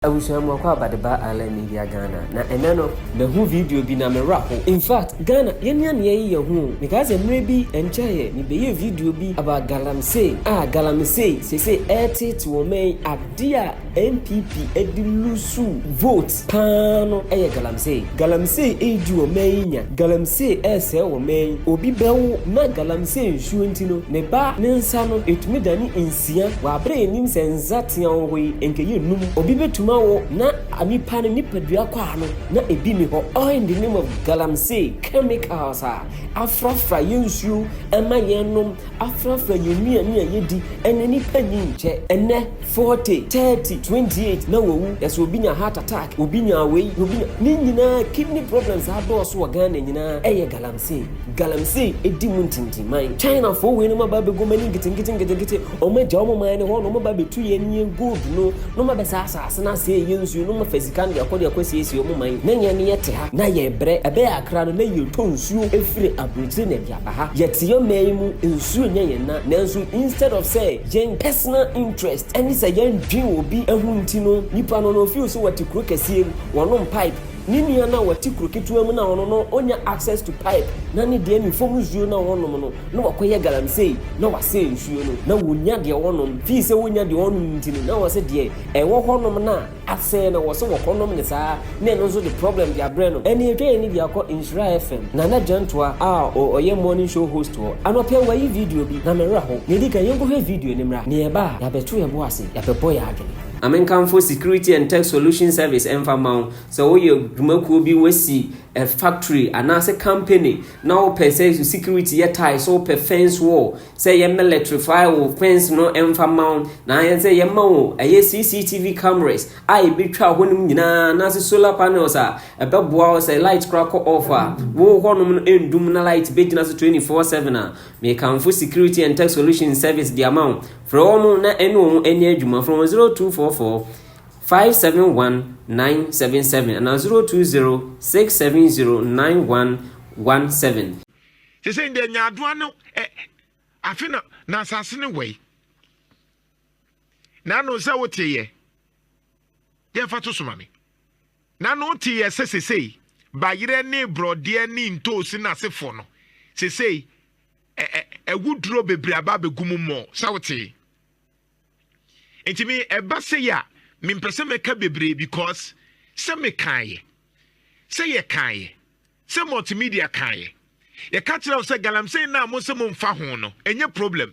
Abusua mu akwaaba de ba Island Media Ghana na ɛnɛ no mahu video bi na me wera ho in fact Ghana yɛn nua nea yi yɛ ho o mekaa sɛ mmerɛ bi ɛnkyɛeɛ me bɛyɛɛ video bi about Galamsey a Galamsey seesei ɛɛteete wɔ ɔman yi adeɛ a NPP ɛde loosuu vote paa no ɛyɛ Galamsey Galamsey ɛɛdi wɔ ɔman yi nya Galamsey ɛɛsɛe wɔ ɔman yi obi bɛwo na Galamsey nsuo nti no ne ba ne nsa no ɛtumi dane Tsia, wɔabrɛ hɛn enyim sɛ ndza tsia ɔwɔ yi nka yennum. Obi betum awo na nyimpa no nyimpadua kɔ ano na ebi nnyi hɔ all in the name of galamsey chemicals a afrafra hɛn nsuo mma yɛnnom, afrafra hɛn nnuane a yedi na nyimpa nnyi nkyɛ ndɛ forty, thirty, twenty eight na wowu na sɛ obi nya heart attack, obi nya wei na obi nya ne nyinaa kidney problems adɔɔso wɔ Ghana nyinaa ɛyɛ galamsey. Sei, galamsey edi mu ntintiman. China foɔ wei nom aba abɛgu ɔmo ani nketenkete nketenkete, ɔmo agya ɔmo man no hɔ na ɔmo aba abɛtu yɛn nie gold no, na ɔmo abɛsɛe asaase no asɛe yɛn nsuo, na ɔmo afa sika no de akɔ de akɔ asiesie ɔmo man, na yɛn yɛte ha na yɛbrɛ, ɛbɛyɛ akra no na yɛtɔ nsuo efiri abrokyire na ɛde aba ha, yɛte yɛn man yi mu, nsuo nyɛ yɛn na, nanso instead of sɛ yɛn personal interest ɛne sɛ yɛn dwen obi ho nti no, nipa no no ɔfeel sɛ ɔte kuro kɛseɛ mu, ɔnom pipe, Ne nua no a ɔte kuro ketewa mu na ɔno no ɔnya access to pipe na ne deɛ ne fam nsuo na ɔnom no na wakɔyɛ galamsey na wasɛe nsuo no na ɔnya deɛ ɔnom fii sɛ ɔnya deɛ ɔnom nti no na ɔsɛ deɛ ɛwɔ hɔ nom no a asɛe no ɔsɛ ɔkɔ nom no saa na ɛno nso de problem de abrɛ no ɛnna ɛtwa yɛn ani de akɔ Nhyira FM Nana Gyantoa a ɔyɛ morning show host hɔ anɔpa yi wayi video bi na me werɛ how na ɛdi kan yɛnkɔhwɛ video no mmra na yɛba a yɛabɛto yɛn bo ase yɛabɛbɔ yɛn adwene. Ma menkamfo Security and Tech Solution Service mfa mma wo. Sɛ woyɛ dwumakuo bi, woasi a factory anaasɛ company na wopɛ sɛ security yɛ tie, so wopɛ fence wall, sɛ yɛ militaryfy wo fence no mfa mma wo, na ayɛ sɛ yɛma wo ɛyɛ CCTV cameras a ɛbɛtwa hɔnom nyinaa anaasɛ solar panels a ɛbɛboa wo sɛ light kora kɔ off a, wo hɔnom no ɛndum na light bɛgyina so 24/7 a, mekamfo Security and Tech Solution Service de ama wo. Frɛ wɔn na ɛne wɔn nyɛ adwuma. Frɛ wɔn 0244 571 977 anaa 020 670 9117. Sesei ndeɛ nyaadoa no ɛ afe na na asase no wɛi. Nano sɛ wo teyɛ yɛ fa to soma me. Nano wo teyɛ sɛ sesei bayerɛ ne brɔdeɛ ne ntoosi no asefoɔ no sesei ɛwo duro bebree aba abɛgu mu mmɔ sɛ wotee nti me ɛba sɛ yɛ a mempɛ sɛ mɛka bebree because sɛ mekaeɛ sɛ yɛkaeɛ sɛ multimedia kaeɛ yɛka kyerɛ wo sɛ galamsey no a mo sɛ momfa ho no ɛnyɛ problem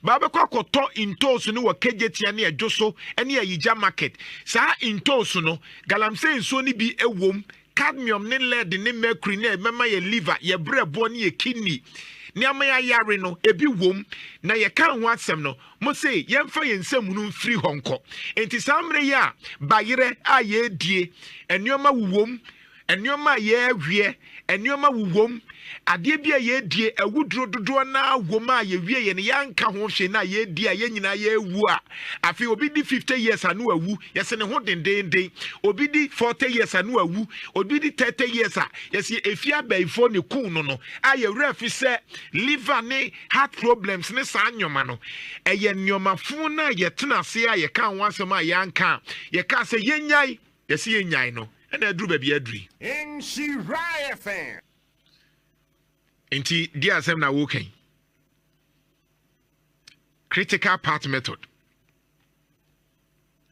baa bɛkɔ akɔtɔ ntooso no wɔ kagyetia ne ɛdwo so ne ayigya market saa ntooso no galamsey nsuo no bi ɛwom Cadmium ne lead ne mercury no a ɛbɛma yɛn liver, yɛn berɛboɔ ne yɛn kidney ne ama yɛayare no, ebi wom, na yɛkaa ho asɛm no, mose yɛmfa yɛn nsam hunu mfiri hɔ nkɔ. Enti saa mmerɛ yi a bayerɛ a yɛredie, nneɛma wowom, nneɛma a yɛreweɛ, nneɛma wowom, Adeɛ bi a yɛdie awuduro dodoɔ no ara wɔ mu a yɛwieɛ no yɛanka ho hwee no a yɛdie a yɛn nyinaa yɛawu a afei obi di 50 years a no awu yɛse ne ho dendeenden obi di 40 years a no awu obi di 30 years a yɛse ɛfie abaifoɔ ne kuu no no a yɛwerɛ afi sɛ liver ne heart problems ne saa nneɛma no ɛyɛ nneɛma fo no a yɛtena ase a yɛka ho asɛm a yɛanka yɛka sɛ yɛnyae Yɛse yɛnyae no na aduru baabi aduru yi. Nhyira FM. Nti di asɛm na woka yi. Critical part method.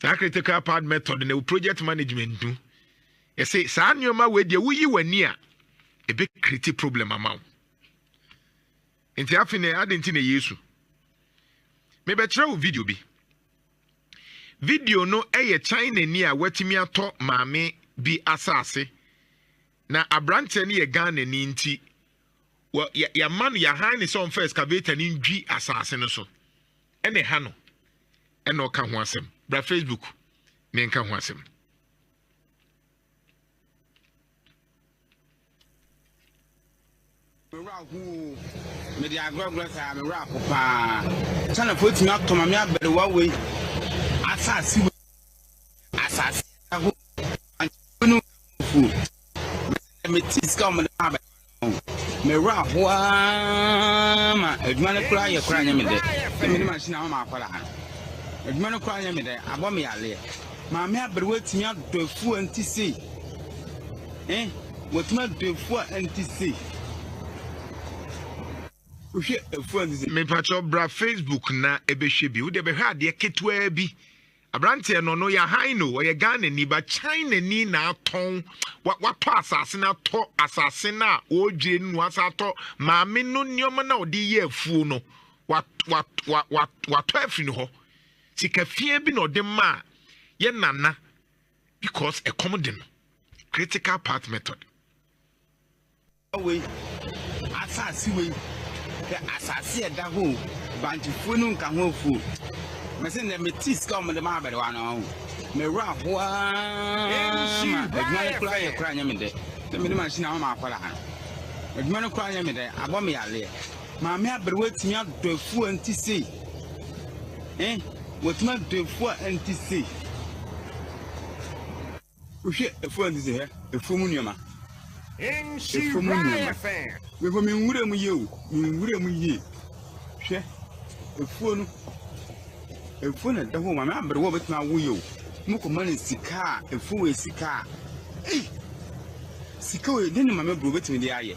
Saa critical part method na project management no. Yɛse saa nneɛma wei deɛ woyi w'ani a ebe create problem ama wo. Nti afei na ade nti na yesu. Mebɛkyerɛ wo video bi. Video no yɛ Chinani a watumi atɔ maame bi asase, na aberanteɛ no yɛ Ghanani nti, yɛama no yɛahan ne sɛ ɔmfa excavator no ndwi asase no so ɛna ɛha no ɛna ɔka ho asɛm bra Facebook ne nka ho asɛm. Me werɛ ahow oo, mede agorɔgorɔ saa, me werɛ aho paa. Chinafoɔ atumi atɔ ma me abariwa wei, asase wei, asase ɛho, ankyɛnfo no fuo. Mɛsɛ me ti sika wɔn de ma abariwa no. Me werɛ ahow aa ma adwuma no koraa yɛ koraa nyɛ me dɛ. Sɛ me de machine ama ma akwadaa no, adwuma no koraa nyɛ me dɛ, abɔ me yareɛ. Maame aberewa atumi adɔ afuw a ɛnte sei. Eh, watumi adɔ afuw a ɛnte sei. Wohwɛ afuw a ɛnte sei. Mepakyɛw bra Facebook na ɛbɛhwɛ bi. Wode bɛhwɛ adeɛ ketewaa bi. Aberanteɛ no no yɛ hann o, ɔyɛ Ghanani ba Chinani na atɔn watɔ asase no atɔ asase no a wɔredwire no na asa atɔ maame no nneɛma no a ɔde yɛ afuo no watɔ afiri no hɔ. Sika fiaa bi na ɔde maa yɛ nana because ɛkɔm de no. Critical path method. Wei asase wei hwɛ asase ɛda hɔ o bantufuo no nka ho afuo mɛsɛ nnɛ mete sika wɔn de ma abɛrewa no ho mɛwura ahoa ma adwuma no koraa yɛ koraa nyɛ me dɛ na mede machine ama akwadaa no adwuma no koraa nyɛ me dɛ abɔ me yareɛ Maame aberewa atumi adɔ afuo a nti sei. Eh, watumi adɔ afuo a nti sei. Wohwɛ afuo a nti sei hɛ, afuo mu nneɛma. Afuo mu nneɛma. Before me nwura mu yie o, me nwura mu yie. Hwɛ, afuo no, afuo na ɛda hɔ o, maame aberewa obetumi awo yie o. Mo kɔ ma no sika a, afuo wɔ sika a. Ei, sika wɔ den na maame aberewa obetumi de ayɛ.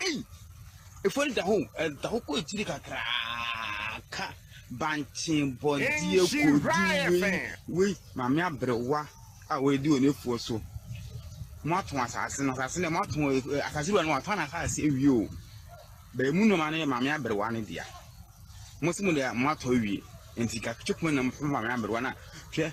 Ei! Efuori da ho, ɛda hɔ kɔ akyiri kakraka. Bankye bɔdeɛ kɔdu wei, wei. Maame aberewa a ɔredi wɔn afuo so. Moatɔn asase no, asase no, moatɔn eh, asase wura no, watɔn n'asase awie o. Bɛn mu nneɛma no yɛ maame aberewa no dea. Mo se mo deɛ moatɔ awie, nti kakye kuma nam fama maame aberewa no a, hwɛ.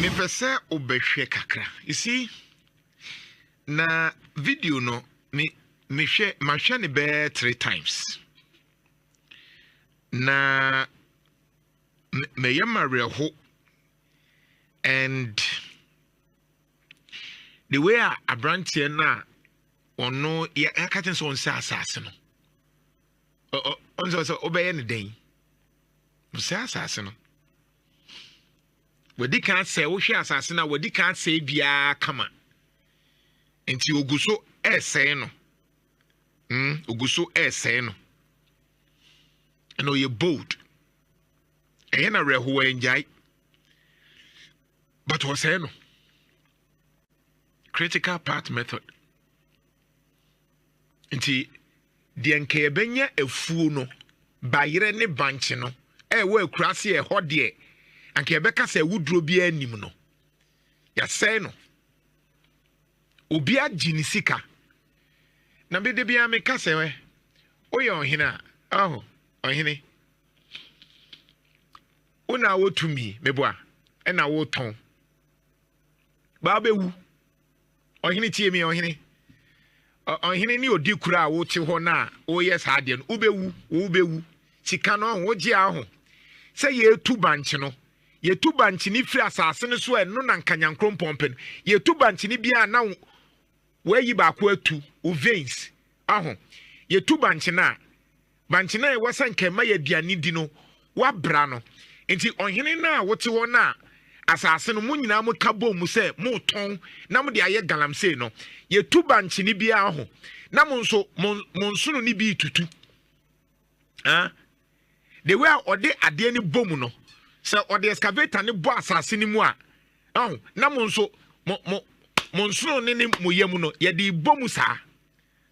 Mepɛ sɛ wobɛhwɛ kakra. You see, na video no me mehwɛ mahwɛ ne bɛɛ three times. Na na ɛyɛ ma werɛho and the way a aberanteɛ no a ɔno yɛka kyɛn sɛ ɔnsɛ asase no ɔnsɛ sɛ wobɛyɛ no dɛn ɔsɛ asase no wadi kan sɛ wohwɛ asase no a wadi kan sɛ biara kama nti ogu so ɛresɛe no mm ogu so ɛresɛe no ɛna ɔyɛ bold ɛyɛ no awerɛhow ɛngyae but wɔsɛe no critical part method nti deɛ nka yɛbɛnya afuo no bayerɛ ne bankye no ɛwɔ akuraase ɛhɔ deɛ anka yɛbɛka sɛ awuduro biara nim no yɛsɛe no obi agye ne sika na mede biara meka sɛ woyɛ ɔhene a aho Ɔhene, wo na wɔ tumi, meboa, ɛna wotɔn. Baa bɛwu. Ɔhene tie mi, ɔhene. Ɔhene ne odi koro a wote hɔ no a woyɛ saa adeɛ no, wobɛwu, wobɛwu. Sika no ɔho, wogye aho. Sɛ yɛtu bankye no, yɛtu bankye no firi asase no so a ɛno na nka nyankrompɔn pɛ no. Yɛtu bankye no biara na wɔayi baako atu, wo veins, aho. Yɛtu bankye no a, Bankye no a ɛwɔ sɛ nka ɛma yɛ aduane di no, wɔabra no. Enti ɔhene no a wote hɔ no a asase no, mo nyinaa moka bom mu sɛ moretɔn na mode ayɛ galamsey no, yɛtu bankye no bi ara ho, na mo nso mo mo nsono no bi retutu. Aa. The way a ɔde adeɛ no bɔ mu no, sɛ ɔde excavator no bɔ asase no mu a, ɛho, na mo nso mo mo mo nsono no ne mo yam no, yɛde bɔ mu saa.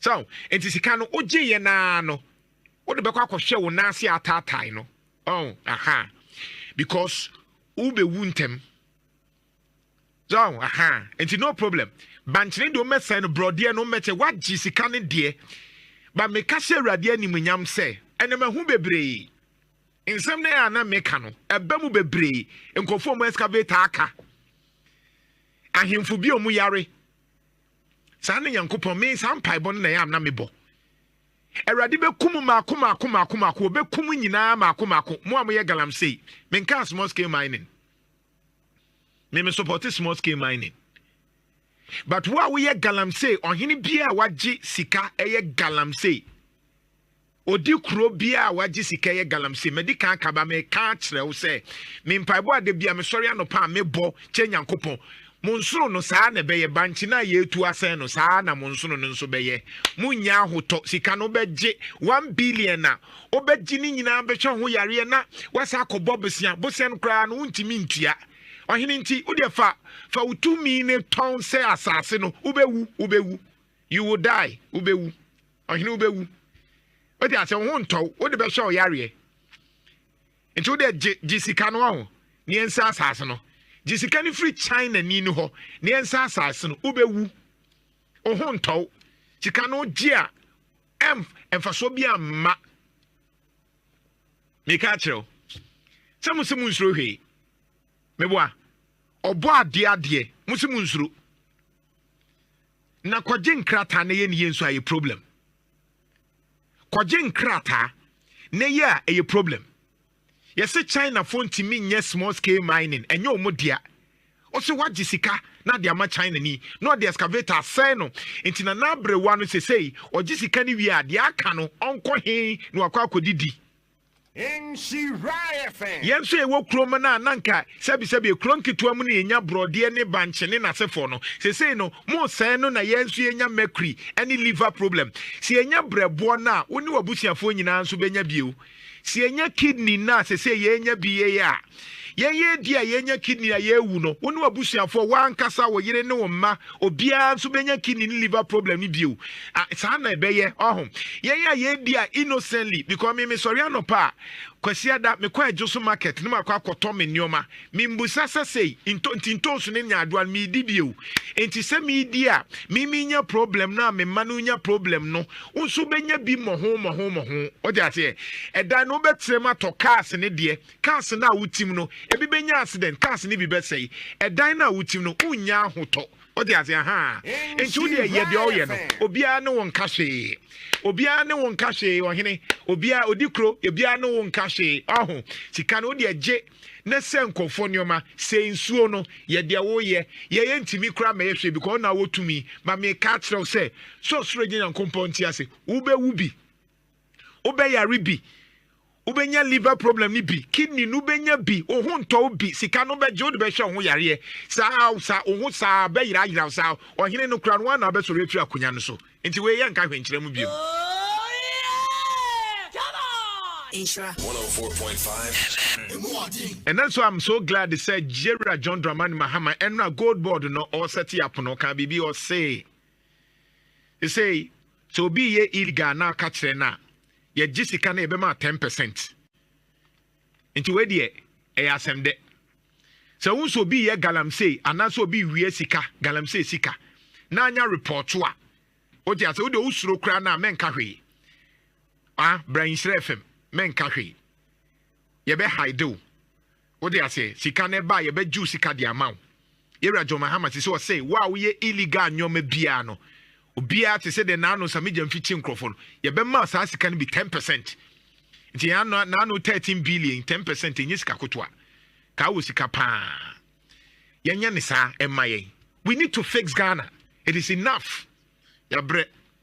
So enti sika no wogyeeɛ no ara no wode bɛkɔ akɔhwɛ wo nan ase ataatae no ɔho aha because wobɛwu ntɛm so ɔho aha enti no problem bankyene deɛ wommɛsɛe no borɔdeɛ no wommɛkyɛ woagye sika no deɛ ba meka hyɛ awurade animuonyam sɛ ɛnam ahu bebree nsɛm no a na meka no ɛbɛ mu bebree nkurɔfoɔ mu excavator aka ahemfo bi ɔmu yare saa ne nyankopɔn me saa mpaebɔ no na ɛyɛ a na mebɔ awurade bɛkum maako maako maako maako wɔbɛkum nyinaa maako maako mo a moyɛ galamsey menkaa small scale mining me me support small scale mining but wo a woyɛ galamsey ɔhene biara a wagye sika ɛyɛ galamsey Odi kuro biaa a wagye sika yɛ galamsey madi kan akaba me ka akyerɛ wo sɛ me mpaebɔ a dabia me sɔre anɔpa a me bɔ kyɛ nyankopɔn mo nsono no saa na ɛbɛyɛ bankye no a yɛtu asɛn no saa na mo nsono no nso bɛyɛ mo nyɛ ahotɔ sika no wobɛgye one billion a wobɛgye no nyinaa bɛhwɛ ho yareɛ na wasa akɔ bɔ bosea bosea no koraa no wontumi ntua ɔhene nti wodeɛ fa fa wo tumi ne tɔn sɛ asase no wobɛwu wobɛwu you will die wobɛwu Ɔhene wobɛwu. Wote aseɛ, wo ho ntɔ wo, wode bɛhwɛ wo yareɛ. Nti wode gye gye sika no ɔho, ne yɛnsa asase no. Gye sika no firi China ni no hɔ, ne yɛnsa asase no. Wobɛwu. Wo ho ntɔ wo. Sika no gye a, ɛm mfasoɔ bi amma. Meka akyerɛ wo. Sɛ mo se mo nsuro hwee. Meboa. Ɔbɔ adeɛ adeɛ, mo se mo nsuro. na kɔgye nkrataa na yɛ ne yɛ nso ayɛ problem kɔgye nkrataa na yɛ a ɛyɛ problem yɛsɛ chinafoɔ ntumi nyɛ small scale mining ɛnyɛ ɔmo dea ɔsɛ wagye sika na de ama china ni na ɔde excavator asɛe no nti na n'aberewa no sesei ɔgye sika no wie a deɛ aka no ɔnkɔ he na wakɔ akɔdidi Yɛn nso a yɛwɔ kurom no a na nka sɛbisɛbi kuro nketewa mu na yɛnya borɔdeɛ ne bankye ne n'asefoɔ no, sesei no mosɛe no na yɛn nso yɛnya mercury ne liver problem. Sɛ yɛnya berɛboɔ no a, wo ne w'abusuafoɔ nyinaa nso bɛnya bio. Sɛ yɛnya kidney no a sesei yɛrenya bi yei a, Yɛn yɛn di a yɛnya kidney a yɛrewu no, wo ne w'abusuafoɔ, wo ankasa, wo yere ne wo mma, obiara nso bɛnya kidney ne liver problem no bio. A, saa na ɛbɛyɛ, ɔho. Yɛn a yɛredi a innocently, because me mesɔre anɔpa a, Kwasiada, mekɔ Adwoso market na makɔ akɔtɔ me nneɛma. Membusa sɛ sei, nto, nti ntoosu ne nyaadoa no meredi bio. Enti sɛ meredi a, me menya problem no a me mma no renya problem no, wo nso wobɛnya bi mmɔho mmɔho mmɔho. Wote aseɛ? Ɛdan no wobɛtena mu atɔ cars ne deɛ, Cars no a wotim no, ebi benya accident, cars no bi bɛsɛe. Dan no a wotim no, wunnya ahotɔ. Wote ase? Ahaa. Enti wo deɛ, yɛ deɛ ɔreyɛ no. Obiara ne wo nka hwee. Obiara ne wo nka hwee, ɔhene. Obiara, odi kuro, obiara ne wo nka hwee. Ɔho. Sika no, wo deɛ gye, na sɛe nkurɔfoɔ nneɛma, sɛe nsuo no, yɛ deɛ woreyɛ. Yɛ, yɛntumi koraa mmɛyɛ hwee, because wo na wɔ tumi. But mereka akyerɛ wo sɛ, sɛ Ɔsoro Agya Nyankopɔn te ase, wobɛwu bi. Wobɛyare bi. Wobɛnya liver problem no bi. Kidney no wobɛnya bi. Wo ho ntɔ wo bi. Sika no wobɛgye wode bɛhwɛ wo ho yareɛ. Saa wo saa wo ho saa bɛyerayera wo saa. Ɔhene no koraa no ara na wobɛsɔre afiri akonnwa no so. Nti wei yɛnka hwenkyerɛ mu bio. Nhyira 104.5 Ɛnɛ nso I'm so glad sɛ Jera John Dramani Mahama ɛno a gold board no ɔsɛte apono ɔka biribi ɔse. Sesei sɛ obi reyɛ illegal na aka kyerɛ no a, yɛgye sika na yɛbɛma ten percent. Nti wei deɛ ɛyɛ asɛm dɛ. Sɛ wohu sɛ obi reyɛ galamsey anaasɛ obi rewia sika, galamsey sika, na anya report a, wote ase, wo deɛ wosuro koraa no a, mɛnka hwee. Ah, bra Nhyira FM, mɛnka hwee. Yɛbɛhide wo. Wote aseɛ? Sika no ɛba a yɛbɛ gyew sika de ama wo. Yɛwura John Mahama sese ɔse wo a woyɛ illegal nnoɔma biaa no obiaa te se de Nano Samigya mfikyi nkorɔfoɔ no yɛbɛ ma saa sika no bi ten percent. Nti yɛn ano Nano thirteen billion ten percent ɛnyɛ sika kotoa. Kaa wɔ sika paa. Yɛn nyɛ ne saa ɛmma yɛn. We need to fix Ghana. It is enough. Yɛabrɛ.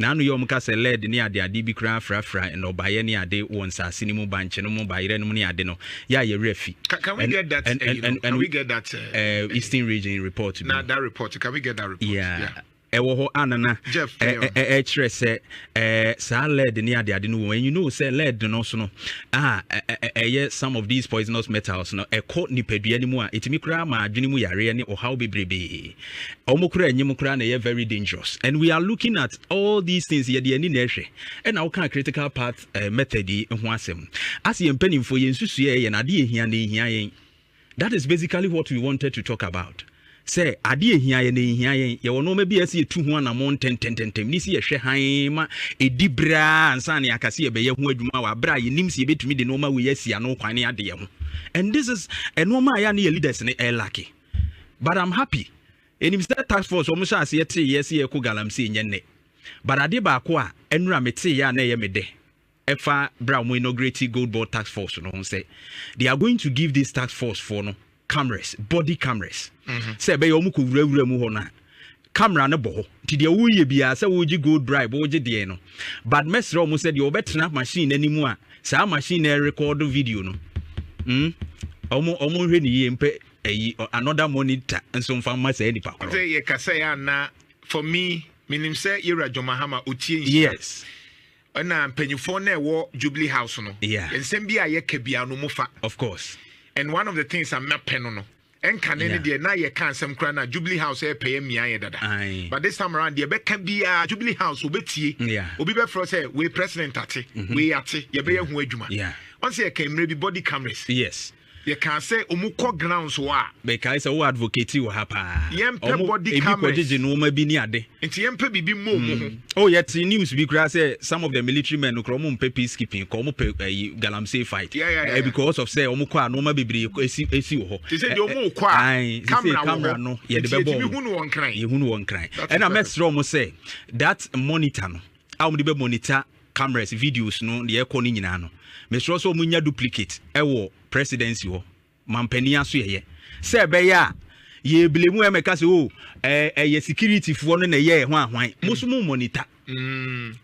Naano yɛ wɔka sɛ lead ne ade ade bi koraa frafra nnɔbaeɛ ne ade wɔ nsaase no mu, bankye no mu, bayerɛ no mu ne ade no yɛ a yɛwerɛ fi. Can, can we get that? And, and, and, can we get that? Uh, uh, Eastern region report. Now that report, can we get that report? Yeah. yeah. ɛwɔ hɔ anana ɛkyerɛ sɛ saa led ne adeade no wɔ and you know sɛ led no so no a ɛyɛ some of these poisonous metals no ɛkɔ nipadua no mu a ɛtumi koraa ma adwene mu yareɛ ne ɔhaw bebrebee Ɔmo kura enyim koraa na ɛyɛ very dangerous and we are looking at all these things yɛde ani na ɛhwɛ ɛna woka critical path uh, method yi ho asɛm ase yɛn mpanimfoɔ yɛn nsusua yɛ na adeɛ ehia na ehia yɛn that is basically what we wanted to talk about sɛ adeɛ ehia yɛn na ehia yɛn yɛwɔ nneɛma bi a ɛsɛ yɛtu ho anamɔ ntɛntɛntɛntɛm ne si yɛhwɛ hann ma edi biraa ansa ne akase yɛbɛyɛ ho adwuma wɔ abere a yɛnim si yɛbɛtumi de nneɛma wei asi ano kwan ne adeɛ ho and this is nneɛma a yɛ ne yɛ leaders ne ɛlake but i'm happy ɛnim sɛ task force wɔn hyɛ aseɛ tee yɛ sɛ yɛkɔ galamsey nyɛ nnɛ but adeɛ baako a ɛnura me tee yɛ a na ɛyɛ me dɛ ɛfa berɛ a wɔn inaugurate gold board task force no ho sɛ they are going to give this task force for no cameras body cameras mm-hmm. sɛ ɛbɛyɛ wɔn kɔ wurawura mu hɔ no a camera no bɔ hɔ nti deɛ woyɛ biara sɛ wogye gold bribe wogye deɛ no but mɛsrɛ ɔmo sɛ deɛ ɔbɛtena machine n'anim a saa machine na ɛrekɔdo video no mm ɔmo ɔmo nhwɛ ne yie mpɛ ɛyi another monitor nso nfa mma saa nipa korɔ. ɔte yɛ kasa yɛ ana for me menim sɛ yɛwura John Mahama otie nhyira yes ɛna mpanyinfoɔ na ɛwɔ Jubilee House no yeah nsɛm bi a yɛka biara no mo fa of course and one of the things a mapɛ no no Ɛnkane ne deɛ na yɛka nsɛm koraa na Jubilee House ɛyɛ pɛyɛ mmea yɛ dada. But this time around deɛ bɛka biara Jubilee House obetie. Obi bɛfrɛ sɛ wei president ate, mhm. wei ate, yɛbɛyɛ ho adwuma. Wɔn sɛ yɛka mmerɛ bi body cameras. Yes. Yɛka sɛ ɔmu kɔ grounds hɔ a. Bɛkae sɛ wo advocate wɔ ha paa. Yɛmpɛ body cameras. Ebi kɔgyegye nneɛma bi ne ade. Nti yɛn pɛ biribi mmɔ ɔmo ho. Mm. Oh, yɛ te news bi koraa sɛ some of the military men no koraa ɔmo mpɛ peacekeeping kɔ ɔmo pɛ ɛyi eh, galamsey fight. Yeah, yeah, eh, yeah. Uh, because of sɛ ɔmo kɔ a nneɛma bebree esi esi wɔ hɔ. Te sɛ deɛ ɔmo kɔ a kamera camera no yɛde bɛ bɔ ɔmo. Yɛhunu wɔn kran. Yɛhunu wɔn kran. Ɛna mɛsrɛ ɔmo sɛ that monitor no a ɔmo de bɛ monitor cameras videos no deɛ ɛkɔ no nyinaa no mɛsrɛ sɛ ɔmo nya duplicate ɛwɔ presidency hɔ. mampanin asoɛyɛ sɛ ɛbɛyɛ a yɛbile mu ɛmɛka sɛ o oh, ɛyɛ sikiritifoɔ no na ɛyɛ ɛho ahwan mo so mo mɔnita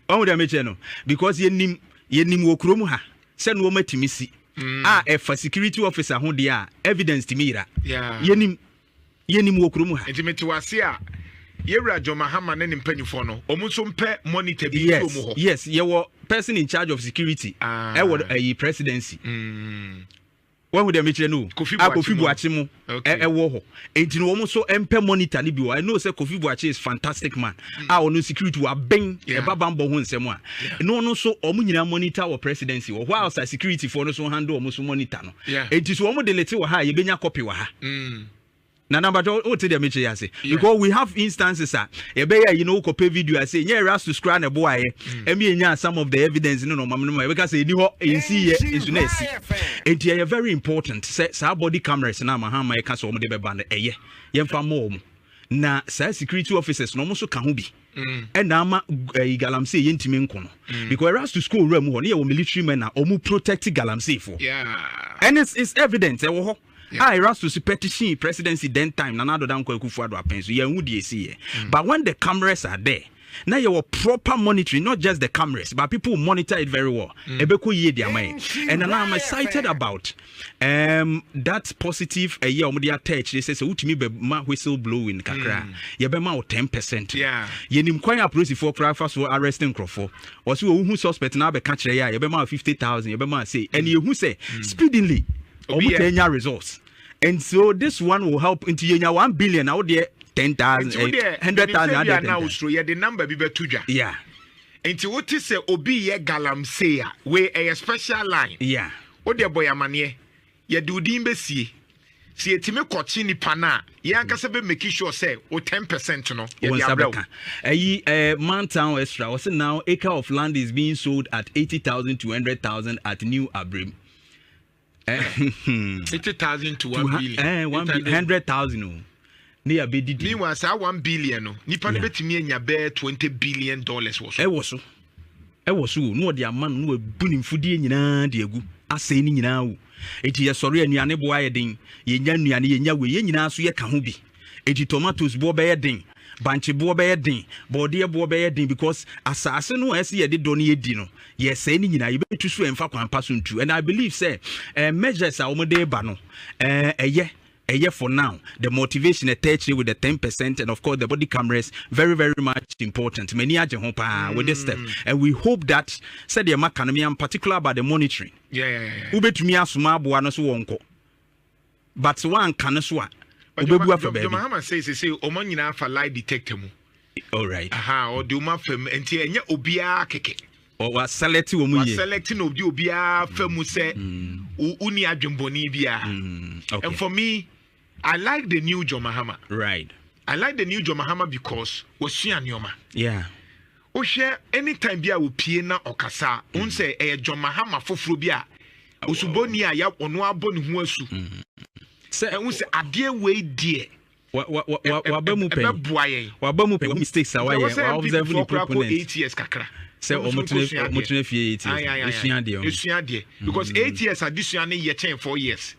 ɔhu dɛ mekyerɛ no because yɛnim yɛnim wɔ kurom ha sɛ no ɔmatumi si mm. a ɛfa security officer ho deɛ a evidence tumi yera yɛnim yɛnim wɔ kurom ha nti mete wase a yɛwura john mahama ne ne mpanimfoɔ no ɔmo nso mpɛ monitor bi yes, kurom hɔ yes yɛwɔ person in charge of security ah. ɛwɔ ayi presidency mm. wahu dɛ mekyerɛ no a kofi buakye mu ɛwɔ hɔ nti no wɔn so mpɛ monitor no bi wɔ i know sɛ kofi buakye is fantastic man hmm. a ɔno security waben ɛba bambɔ ho nsɛm a ɛno ɔno so wɔn nyinaa monitor wɔ presidency wɔ hɔ a ɔsa security foɔ no so handle wɔn so monitor no nti so wɔn de lete wɔ ha a yɛbɛnya copy wɔ ha hmm. Nana mpakyɛ wo te deɛ mekyɛ yi ase because we have instances a yɛbɛyɛ ayi na wokɔ pɛ video ase nyɛ erastus koraa na ɛboa yɛ ɛmi yɛ nya some of the evidence ne na ɔmam no ma yɛbɛka sɛ ɛni hɔ ɛnsi yɛ nso na ɛsi nti ɛyɛ very important sɛ saa body cameras na ama ha ma yɛka sɛ wɔn de bɛba no ɛyɛ yɛmfa mɔ wɔn na saa security officers na wɔn nso ka ho bi mm. ɛna ama ɛyi eh, galamsey yɛ ntumi nko no mm. because erastus school wura mu hɔ ne yɛ wɔ military men na wɔn protect galamsey fo ɛne is evident ɛwɔ hɔ. a Erastus petitioned presidency then time Nana Addo Dankwa Akufo-Addo apɛn so yɛn ho deɛ esi yɛ mm. but when the cameras are there na yɛwɔ proper monitoring not just the cameras but people monitor it very well mm. ɛbɛkɔ yie di ama yɛ and now I'm excited about um, that positive ɛyɛ a wɔde atɛ akyire sɛ sɛ wotumi bɛ ma whistle blowing kakra mm. yɛbɛma wo ten percent yɛnim kwan a polisifoɔ koraa fa so arrest nkurɔfoɔ wɔsi wɔn ho suspect na abɛka kyerɛ yɛ a yɛbɛma fifty thousand yɛbɛma say ɛna yɛhu sɛ speedily. Obi taa nya results and so this one will help nti yɛ nya one billion na wo deɛ ten thousand eh, hundred thousand adeɛ ten thousand. osoro yɛ de number bi bɛ to dwa. yeah nti wo ti sɛ obi yɛ galamsey a wei ɛyɛ special line. yeah wo deɛ bɔ yɛ amaneɛ yɛde wo din bɛsie sɛ yɛtumi kɔkye nipa no a yɛn ankasa bɛ make sure sɛ wo ten percent no wɔn yɛde nsa abrɛ wo bɛka ɛyi ɛɛ mantown extra wɔsi now acre of land is being sold at eighty thousand to hundred thousand at new abrim Eh, hmm. eighty thousand to one billion. Eh, one bi hundred thousand o. Ne yà bɛ didi. Meanwhile saa one billion no nipa no bɛtumi anya bɛɛ twenty billion dollars wɔ so. Ɛwɔ so ɛwɔ so o na ɔde ama no na wabu ne mfudeɛ nyinaa de agu asɛe ne nyinaa o eti yɛsɔre anuane boa yɛ den yɛnya nnuane yɛnya wei yɛn nyinaa so yɛka ho bi. Enti tomatoes boɔ bɛyɛ den, bankye boɔ bɛyɛ den, bɔɔdeɛ boɔ bɛyɛ den because asaase no a ɛsɛ yɛde dɔ no yɛdi no yɛsɛe ne nyinaa yɛbɛtu so ɛmfa kwan pa so ntu and I believe sɛ uh, measures a wɔde reba no ɛyɛ uh, ɛyɛ for now the motivation ɛtɛ akyire with the ten percent and of course the body cameras very very much important mani agye ho paa mm. with this step mm. and we hope that sɛdeɛ maka no me am particular about the monitoring wobɛtumi asoma aboa no so wɔnkɔ but sɛ wanka no so a ɔbɛbu afa baabi. Jomahama sɛ sese ɔma nyinaa fa lie detector mu. Alright. Aha ɔde ɔma afa mu nti ɛnyɛ obiara kɛkɛ. Waselect wɔn yie. Waselect na ɔde obiara fa mu sɛ wonni mm. adwembɔne biara. Mm, And for me, I like the new Jomahama. Right. I like the new Jomahama because wasua nneɛma. Yeah. Wohwɛ any time bi a opie na ɔkasa a, wohu sɛ ɛyɛ John Mahama foforɔ bi a osubɔni a ya ɔno abɔ ne ho asu. Sɛ ɛho sɛ adeɛ wei deɛ waba mu pɛn ɛbɛboa yɛn waba mu pɛn wɔn mistakes a wayɛ wa observe ne proponent eight years kakra sɛ wɔn tena wɔn tena fie eight years esua deɛ esua deɛ because eight years adesua ne yɛ kyɛn four years.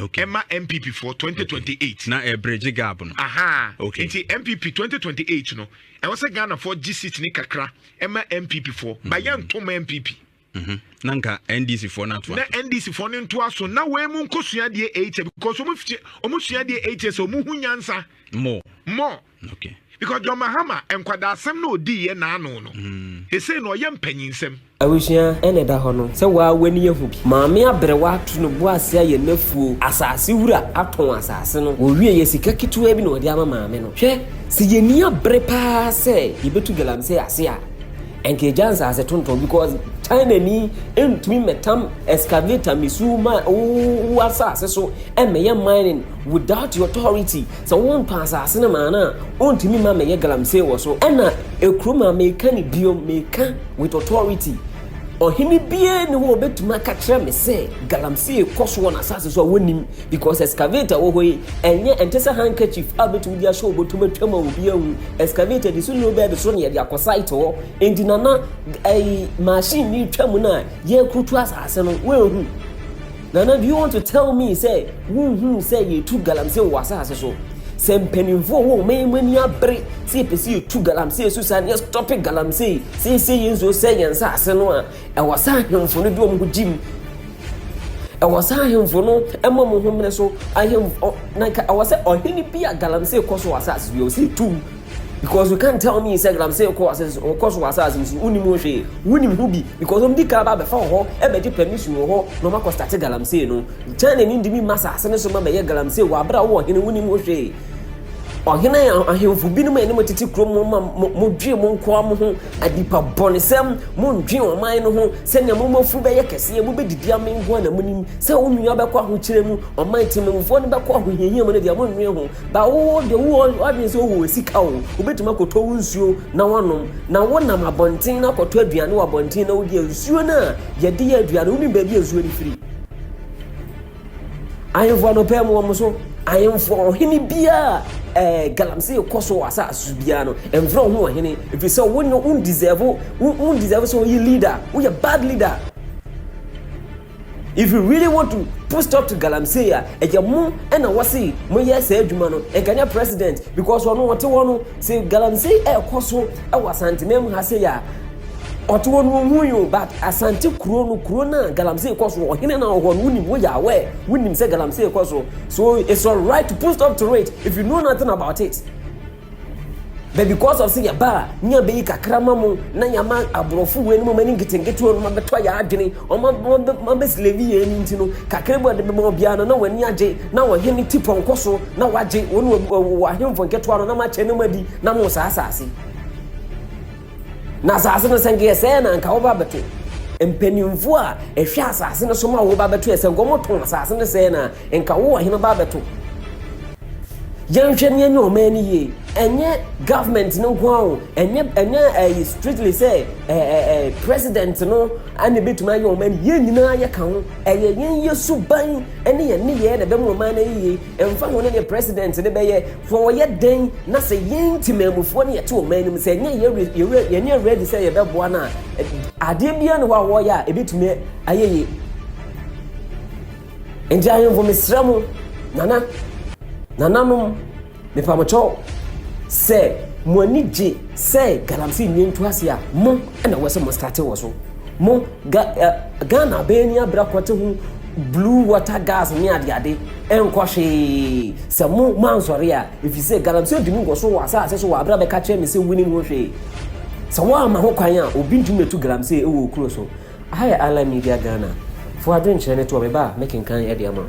okay. ɛma npp foɔ 2028 okay. na ɛbrɛgye eh, gab no aha okay. nti npp 2028 no ɛwɔ sɛ ghanafoɔ gye seat ne kakra ɛma npp foɔ mm. bayɛ ntom npp Mm-hmm. na nka ndc foɔ no atoa na ndc foɔ no ntoa so na wɔn mu nkosua deɛ ɛkyɛ because wɔn sua deɛ ɛkyɛ sɛ wɔn ho nyansa mɔ mɔ Okay. Because John Mahama nkwadasɛm na odi yɛ n'ano no. Ɛsei na ɔyɛ mpanyinsɛm. Abusua na ɛda hɔ no sɛ waa w'ani ahu bi. Maame aberewa atu no bo ase ayɛ n'afuo. Asase wura atɔn asase no. Wɔwieɛ sika ketewa bi na wɔde ama maame no. Hwɛ, sɛ yɛnni abere pa ara sɛ yɛbɛtu galamsey ase a, anka yɛgya nsase tontɔn because China ni ntumi mmɛtam excavator mmisu ma wo asase so mmɛyɛ mining without your authority. Sɛ wo mpa asase no maa no a, ontumi mma mɛyɛ galamsey wɔ so. Ɛna ekurom a meka no bio, meka with authority, ɔhene biara ni hɔ a obetumi aka kyerɛ me sɛ galamsey kɔ so wɔ n'asase so a wonnim because excavator wɔ hɔ yi, ɛnyɛ ɛnte sɛ handkerchief a obetumi de ahyɛ ɔbɔtom atwam a obi ahu. Excavator de so nni obɛ de so na yɛde akɔ site hɔ. Enti Nana, ɛyi machine no retwa mu no a yɛrekuru tu asase no, woanhu? Nana do you want to tell me sɛ wonhuu sɛ yɛretu galamsey wɔ asase so? Sɛ mpanyimfo a wɔwɔ ɔman mu ani abere sɛ yɛpɛ sɛ yɛtu galamsey so saa na yɛstɔpe galamsey seesei yɛ nsuo sɛe yɛn nsase no a, ɛwɔ sɛ ahemfo no de wɔn ho gyim. Ɛwɔ sɛ ahemfo no ma wɔn ho mmene so. Ahemfo, na ɛwɔ sɛ ɔhene bi a galamsey kɔ so wɔ asase so bi, ɛwɔ sɛ yɛtu Because you can't tell me Instagram sɛ kɔ asase so ɔkɔ so wɔ asase no so wonim ho hwee wonim ho bi because ɔmo di kan ba abɛfa wɔ hɔ ɛbɛgye permission wɔ hɔ na ɔmo akɔ start galamsey no China ni ntumi mma asase no so ma bɛyɛ galamsey wɔ abere a wowɔ hene wonim ho hwee ɔhene ahemfo binom a ɛne mo tete kurom mo ma modwe mo nkoa mo ho adipa bɔnesɛm mondwe ɔman no ho sɛnea mo mafuru bɛyɛ kɛseɛ mobɛdidi ame nkoa na monim sɛ wo nua bɛkɔ ahokyerɛ mu ɔman temmamfoɔ no bɛkɔ ahohiahia mu no deɛ monwe ho Ba wo wo deɛ wo w'adwene sɛ wowɔ sika o, wobɛtumi akɔtɔ wo nsuo na woanom, na wonam abɔnten na akɔtɔ aduane wɔ abɔnten na wodi a nsuo no a yɛde yɛ aduane wonim baabi a nsuo no firi. Ahemfo anɔpɛ mu wɔn so ahemfo ɔhene biara ɛɛ eh, galamsey kɔ so wɔ asase so biara no mfrɛ wo ho ɔhene ɛfiri sɛ wonyɛ wo deserve wo deserve sɛ woyɛ leader woyɛ bad leader If you really want to put stop to galamsey a ɛyɛ mo ɛna wɔsi mo yɛ saa adwuma no nka nyɛ president because ɔno ɔte hɔ no sɛ galamsey ɛkɔ so ɛwɔ asanteman mu ha sɛ yɛ a ɔte hɔ no ohun yi o but asante kuro no kuro na galamsey kɔ so ɔhene na ɔhɔ no wonim wo yɛ awɛ wonim sɛ galamsey kɔ so so it's alright to put stop to it if you know nothing about it. But because of sɛ yɛba a ne yɛbɛyi kakra ma mo na yɛama aborɔfo wei no mɔma ne nketenkete wɔn mabɛtɔ yɛ adwene wɔn mabɛsilevi yɛn no nti no kakra bi wɔde bɛma obiara no na wɔn ani agye na ɔhene ti pɔnkɔ so na wagye wɔn wɔ ahemfo nketewa no na makyɛ no madi na mo saa asase Na asase no sɛ nka yɛsɛe na anka woba bɛte. Mpanyimfo a ɛhwɛ asase no so ma woba bɛto yɛ sɛ nka wɔtɔn asase no sɛe na nka wo ɔhene ba bɛto. Yɛnhwɛ ne ɛnyɛ ɔman no yie ɛnyɛ government no nko ara ɛnyɛ ɛnyɛ ɛyi strictly sɛ ɛɛ ɛɛ president no ɛna ebetumi ayɛ ɔman yɛn nyinaa yɛ ka ho ɛyɛ yɛn yɛ suban ɛne yɛn ne yɛ na ɛbɛma ɔman no yie Ɛmfa ho ne deɛ president no bɛyɛ, fɔ wɔyɛ dɛn na sɛ yɛn temanmufoɔ no yɛte ɔman no mu sɛ ɛnyɛ yɛnyɛ ready sɛ yɛbɛboa no a, adeɛ biara ne hɔ a wɔyɛ a ɛbɛtumi ayɛ yie. Nti ahemfo mesrɛ mo, nana, nananom, mepa mo kyɛw sɛ mo ani gye sɛ galamsey nneɛ ntu ase a, mo ɛna wɔ sɛ mo starte wɔ so. Mo ga, uh, Ghana bɛyɛ ni abira kɔte ho Blue water gas ne adeade nkɔ hwee sɛ mo moansɔre a, efisɛ galamsey di mu nkɔ so wɔ asase so wɔ abere a bɛka kyerɛ me sɛ wunim ho hwee. Sɛ woamma ho kwan a, obi ntumi ntu galamsey wɔ wo kuro so. Aha yɛ Island Media Ghana. Fo adwenkyerɛ no toɔ, meba a, mɛkenkan de ama wo.